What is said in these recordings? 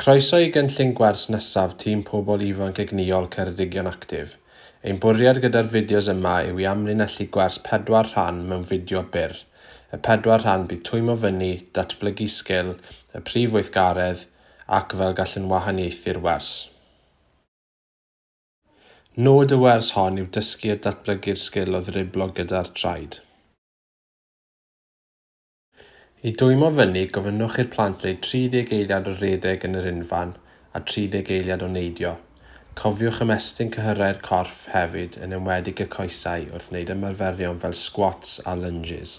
Croeso i gynllun gwers nesaf Tîm Pobl Ifanc Egnïol Ceredigion Actif. Ein bwriad gyda'r fideos yma yw i amlinellu gwers pedwar rhan mewn fideo byr. Y pedwar rhan bydd twymo fyny, datblygu sgil, y prif weithgaredd, ac fel gallwn wahaniaethu'r wers. Nod y wers hon yw dysgu a datblygu'r sgil o ddriblo gyda'r traed. I dwymo fyny, gofynnwch i'r plant wneud 30 eiliad o redeg yn yr unfan a 30 eiliad o neidio. Cofiwch ymestyn cyhyrau'r corff hefyd, yn enwedig y coesau, wrth wneud ymarferion fel sgwats a lunges.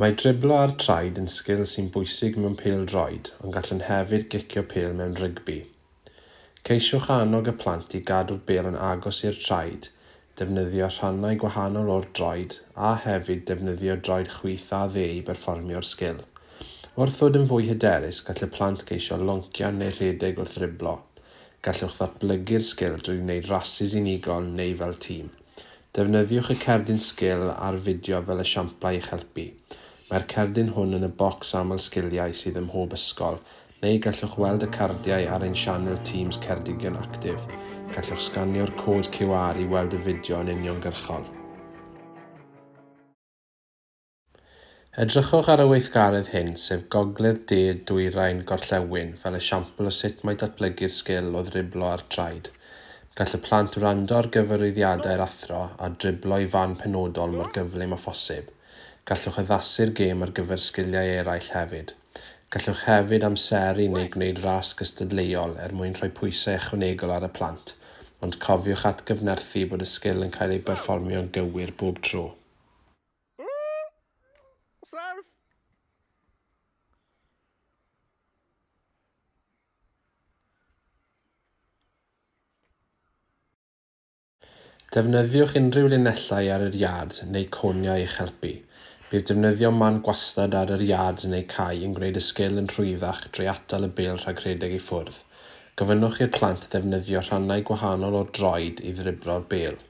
Mae driblo ar traed yn sgil sy'n bwysig mewn pêl-droed ond gallwn hefyd gicio pêl mewn rygbi. Ceisiwch annog y plant i gadw'r bêl yn agos i'r traed, defnyddio rhannau gwahanol o'r droed a hefyd defnyddio droed chwith a dde i berfformio'r sgil. Wrth ddod yn fwy hyderus, gall y plant geisio loncian neu rhedeg wrth ddriblo. Gallwch ddatblygu'r sgil drwy wneud rasys unigol neu fel tîm. Defnyddiwch y cerdyn sgil a'r fideo fel esiamplau i'ch helpu. Mae'r cerdyn hwn yn y bocs aml sgiliau sydd ym mhob ysgol, neu gallwch weld y cardiau ar ein sianel Teams Ceredigion Actif. Gallwch sganio'r cod QR i weld y fideo yn uniongyrchol. Edrychwch ar y weithgaredd hyn, sef Gogledd De Dwyrain Gorllewin, fel esiampl o sut mae datblygu'r sgil o ddriblo ar draed. Gall y plant wrando ar gyfarwyddiadau'r athro a driblo i fan penodol mor gyflym â phosib. Gallwch addasu'r gêm ar gyfer sgiliau eraill hefyd. Gallwch hefyd amseru neu gwneud ras gystadleuol er mwyn rhoi pwysau ychwanegol ar y plant, ond cofiwch atgyfnerthu bod y sgil yn cael ei berfformio'n gywir bob tro. Serf! Defnyddiwch unrhyw linellau ar yr iard neu coniau i'ch helpu. Bydd defnyddio man gwastad ar yr iard neu cae yn gwneud y sgil yn rhwyddach drwy atal y bêl rhag rhedeg i ffwrdd. Gofynnwch i'r plant ddefnyddio rhannau gwahanol o'r droed i ddriblo'r bêl.